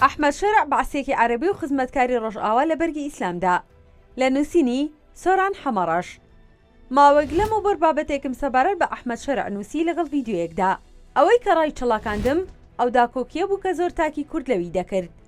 ئەحمەد شەرع بەعسیەکی عەرەبی و خزمەتکاری ڕۆژئاوا لە بەرگی ئیسلامدا. لە نووسینی، سۆران حەمەڕەش. ماوەیەک لەمەوبەر بابەتێکم سەبارەت بە ئەحمەد شەرع نووسی لەگەڵ ڤیدیۆیەکدا. ئەوەی کە ڕایچڵەکاندم، ئەو داکۆکییە بوو کە زۆر تاکی کورد لەوی دەکرد.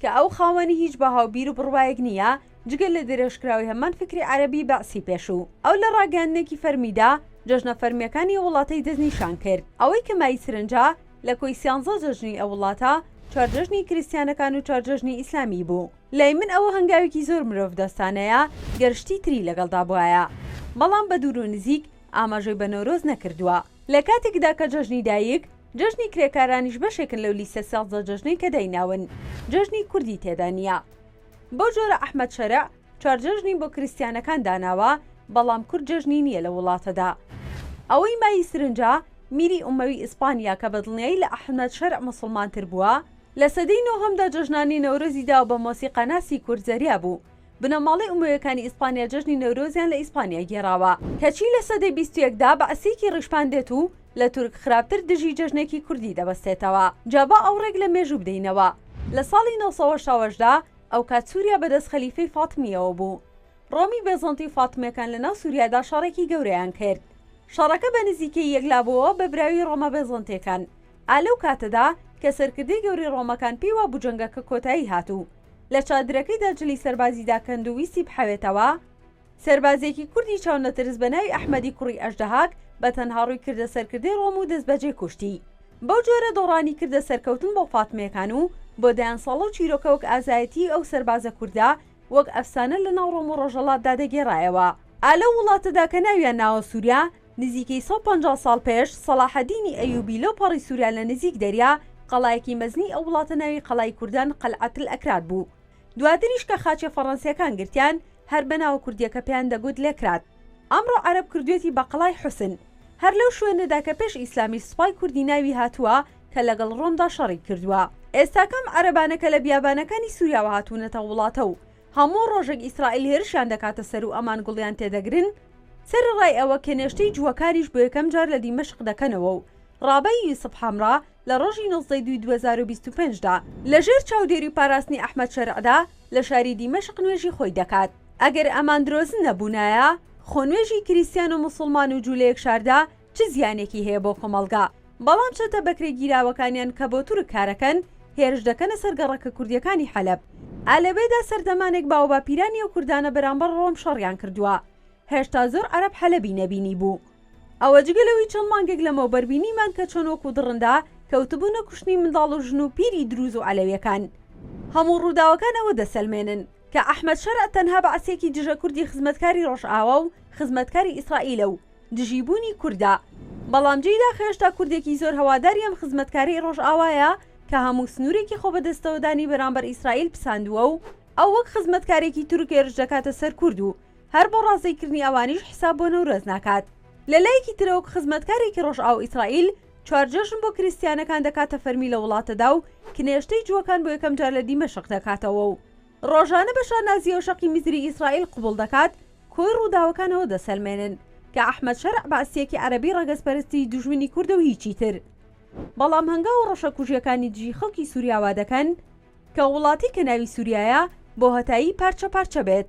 کە ئەو خاوەنی هیچ بەهاو بیرو بڕوایەک نییە جگە لە درێژکراوی هەمان فیکری عەرەبی بەعسی پێشوو. ئەو لە ڕاگەیاندنێکی فەرمیدا جەژنە فەرمییەکانی ئەو وڵاتەی دەستنیشان کرد. ئەوەی کە مای سرنجە، لە کۆی سیانزە جەژنی ئەو وڵاتە، چوار جەژنی کریستیانەکان و چوار جەژنی ئیسلامی بوو. لای من ئەوە هەنگاوێکی زۆر مرۆڤدۆستانەیە گەر شتی تری لەگەڵدا بوایە. بەڵام بە دوور و نزیک ئاماژەی بە نەورۆز نەکردووە، لە کاتێکدا کە جەژنی دایک، جەژنی کرێکارانیش بەشێکن لەو لیستە سێزدە جەژنەی کە دایناون، جەژنی کوردی تێدا نییە. بەو جۆرە ئەحمەد شەرع چوار جەژنی بۆ کریستیانەکان داناوە، بەڵام کورد جەژنی نییە لەو وڵاتەدا. ئەوەی مایەی سرنجە، میری ئومەوی ئیسپانیا کە بەدڵنیایی لە ئەحمەد شەرع موسڵمانتر بووە، لە سەدەی نۆهەمدا جەژنانی نەورۆزی داوە بە مۆسیقاناسی کورد زەریا بوو بنەماڵەی ئومەویەکانی ئیسپانیا جەژنی نەورۆزیان لە ئیسپانیا گێڕاوە. کەچی لە سەدەی بیست و یەکدا بەعسییەکی ڕیشپان دێت و لە تورک خراپتر دژی جەژنێکی کوردی دەبەستێتەوە. جا با ئاوڕێک لە مێژوو بدەینەوە. لە ساڵی نۆ سەد و هەشتا و هەشت دا ئەوکات سووریا بەدەست خەلیفەی فاتمییەوە بوو. ڕۆمی بێزەنتی و فاتمییەکان لەناو سووریادا شەڕێکی گەورەیان کرد. شەڕەکە بە نزیکەیی یەکلابووەوە بە براوی ڕۆمە بێزەنتییەکان. ئا لەو کاتەدا کە سەرکردەی گەورەی ڕۆمەکان پێی وابوو جەنگەکە کۆتایی هات و لە چادرەکەیدا جلی سەربازی داکەند و ویستی بحەوێتەوە، سەربازێکی کوردی چاونەترس بە ناوی ئەحمەدی کوڕی ئەژدەهاک بە تەنها ڕووی کردە سەرکردەی ڕۆم و دەستبەجێ کوشتی. بەو جۆرە دۆڕانی کردە سەرکەوتن بۆ فاتمییەکان و بۆ دەیان ساڵە و چیرۆکە وەک ئازایەتیی ئەو سەربازە کوردە وەک ئەفسانە لە ناو ڕۆم و ڕۆژەڵاتدا دەگێڕایەوە. ئا لەو وڵاتەدا کە ناویان ناوە سووریا، نزیکەی سەد و پەنجا ساڵ پێش، سەڵاحەدینی ئەیوبی لەو پەڕی سوریا لە نزیک دەریا، قەڵایەکی مەزنی ئەو وڵاتە ناوی قەڵای کوردان قلعەتلئەکراد بوو. دواتریش کە خاچە فەڕەنسییەکان گرتیان، هەر بە ناوە کوردییەکە پێیان دەگوت لئکراد. ئەمڕۆ عەرەب کردوویەتی بە قەڵای حوسن. هەر لەو شوێنەدا کە پێش ئیسلامیش سوپای کوردی ناوی هاتووە کە لەگەڵ ڕۆمدا شەڕی کردووە. ئێستاکە ئەم عەرەبانە کە لە بیابانەکانی سوریاوە هاتوونەتە وڵاتە و، هەموو ڕۆژێک ئیسرائیل هێرشیان دەکاتە سەر و ئەمان گوڵیان تێدەگرن، سەرەڕای ئەوە کە نێشتەی جووەکانیش بۆ یەکەم جار لە دیمەشق دەکەنەوە و ڕابەی یوسف حەمرا لە ڕۆژی نۆزدە ی دووی دوو هەزار و بیست و پێنج دا لە ژێر چاودێری و پاراستنی ئەحمەد شەرعدا لە شاری دیمەشق نوێژی خۆی دەکات. ئەگەر ئەمان درۆزن نەبوونایە، خۆ نوێژی کریستیان و موسوڵمان و جوو لە یەک شاردا، چ زیانێکی هەیە بۆ کۆمەڵگا، بەڵام چەتە بەکرێگیراوەکانیان کە بۆ تورک کارەکەن، هێرش دەکەنە سەر گەڕەکە کوردییەکانی حەلەب. ئا لەوێدا سەردەمانێک باوەباپیرانی ئەو کوردانە بەرامبەر ڕۆم شەڕیان کردووە، هێشتا زۆر عەرەب حەلەبی نەبینیبوو. ئەوە جگە لەوەی چەند مانگێک لەمەوبەر بینیمان کە چۆن وەکو دڕندا کەوتبوونە کوشتنی منداڵ و ژن و پیری دروز و عەلەویەکان. هەموو ڕووداوەکان ئەوە دەسەلمێنن کە ئەحمەد شەرع تەنها بەعسییەکی دژە کوردی خزمەتکاری ڕۆژئاوا و خزمەتکاری ئیسرائیلە و دژی بوونی کوردە بەڵام جێی داخەێشتا کوردێکی زۆر هەواداری ئەم خزمەتکارەی ڕۆژئاوایە کە هەموو سنوورێکی خۆبەدەستەوەدانی بەرامبەر ئیسرائیل پساندووە و ئەو وەک خزمەتکارێکی تورک هێرش دەکاتە سەر کورد و هەر بۆ ڕازی کردنی ئەوانیش حیساب بۆ نەورۆز ناکات لە لایەکی ترەوەک خزمەتکارێکی ڕۆژئاو ئیسرائیل چوار جەژن بۆ کریستیانەکان دەکاتە فەرمی لە وڵاتەدا و کنێشتەی جووەکان بۆ یەکەم جار لە دیمەشق دەکاتەوە و ڕۆژانە بە شانازییەوە شەقی میزری ئیسرائیل قبوڵ دەکات، کۆی ڕووداوەکان ئەوە دەسەلمێنن کە ئەحمەد شەرع بەعسییەکی عەرەبی ڕەگەزپەرستی دوژمنی کوردە و هیچی تر. بەڵام هەنگاو و ڕەشەکوژییەکانی دژی خەڵکی سووریا وا دەکەن کە وڵاتێک کە ناوی سووریایە بۆهەتایی پارچە پارچە بێت.